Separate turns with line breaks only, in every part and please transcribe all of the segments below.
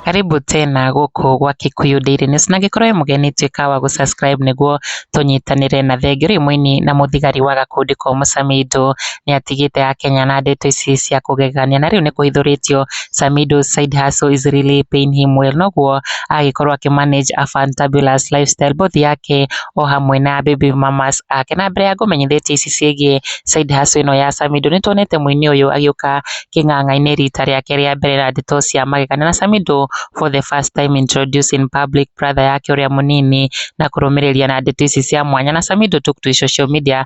Karibu tena gũkũ gwa Kikuyu Daily News na angĩkorwo wĩ mũgeni tuĩka wa gũ subscribe nĩguo tũnyitanĩre na thengiũ rĩ mũini na mũthigari wa gakundi komũ Samido nĩatigĩte akenya na ndeto ici cia kũgegania na rĩu nĩkũhithũrĩtio Samido side hustle is really paying him well noguo agĩkorwo akĩ manage a fantabulous lifestyle both yake o hamwe na baby mamas ake na mbere ya ngũmenyithĩtie ici ciĩgiĩ side hustle ĩno ya Samido nĩ tuonete mũini ũyũ agĩũka kĩng'ang'a-inĩ rita rĩake rĩa mbere na ndeto cia magegania na Samido for the first time introduced in public brother yake ũrĩa mũnini na kũrũmĩrĩria na ndeto ici cia mwanya na Samido took to social media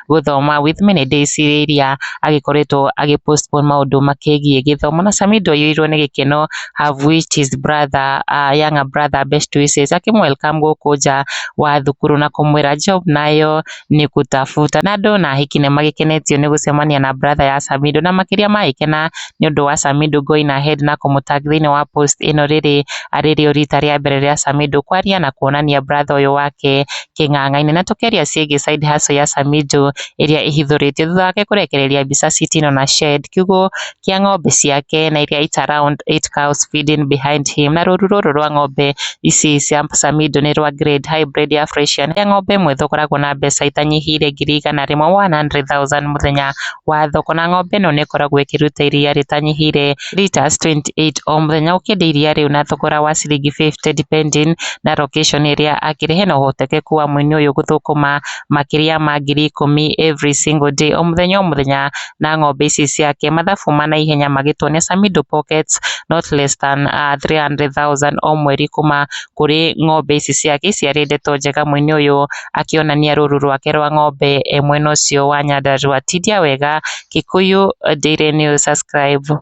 gũthoma with me nĩ ndĩcirĩria agĩkoretwo agĩ postpone maũndũ makĩgiĩ gĩthomo na Samido aiyũirwo nĩ gĩkeno have wished his brother uh, younger brother best wishes akĩmũ welcome gũkũ nja wa thukuru na kũmwĩra job nayo nĩ gũtafuta na andũ na ahiki nĩ magĩkenetio nĩ gũcemania na brother ya Samido na makĩria magĩkena nĩ ũndũ wa Samido going ahead na kũmũtag thĩinĩ wa post ĩno rĩrĩ arĩrĩo rita rĩa mbere rĩa Samido kwaria na kuonania brother ũyũ wake kĩng'ang'a-inĩ na tũkĩaria ciĩgiĩ side hustle ya Samijo ĩrĩa ĩhithũrĩtio thutha wake kũrekereria mbica Citino na Shed, kiugũ kĩa ng'ombe ciake na iria it's around eight cows feeding behind him na rũru rũrũ rwa ng'ombe ici cia Samido nĩ rwa grade high breed ya Freshian ĩrĩa ng'ombe ĩmwe thogoragwo na mbeca itanyihiire ngiri igana rĩmwe, one hundred thousand, mũthenya wa thoko na ng'ombe ĩno nĩ ĩkoragwo ĩkĩruta iria rĩtanyihiire. litres 28 o mũthenya ũkĩenda iria rĩu na thogora wa ciringi 50 depending na location ĩrĩa akĩrĩ hena ũhotekeku wa mũini ũyũ gũthũkũma makĩria ma ngiri ikũmi every single day o mũthenya o mũthenya na ng'ombe ici ciake mathabu ma naihenya magĩtuonia Samido pockets not less than uh, 300,000 o mweri kuma kũrĩ ng'ombe ici ciake ici arĩ ndeto njega mũini ũyũ akĩonania rũru rwake rwa ng'ombe e mwena ũcio wa Nyandarua tindia wega Kikuyu Daily News subscribe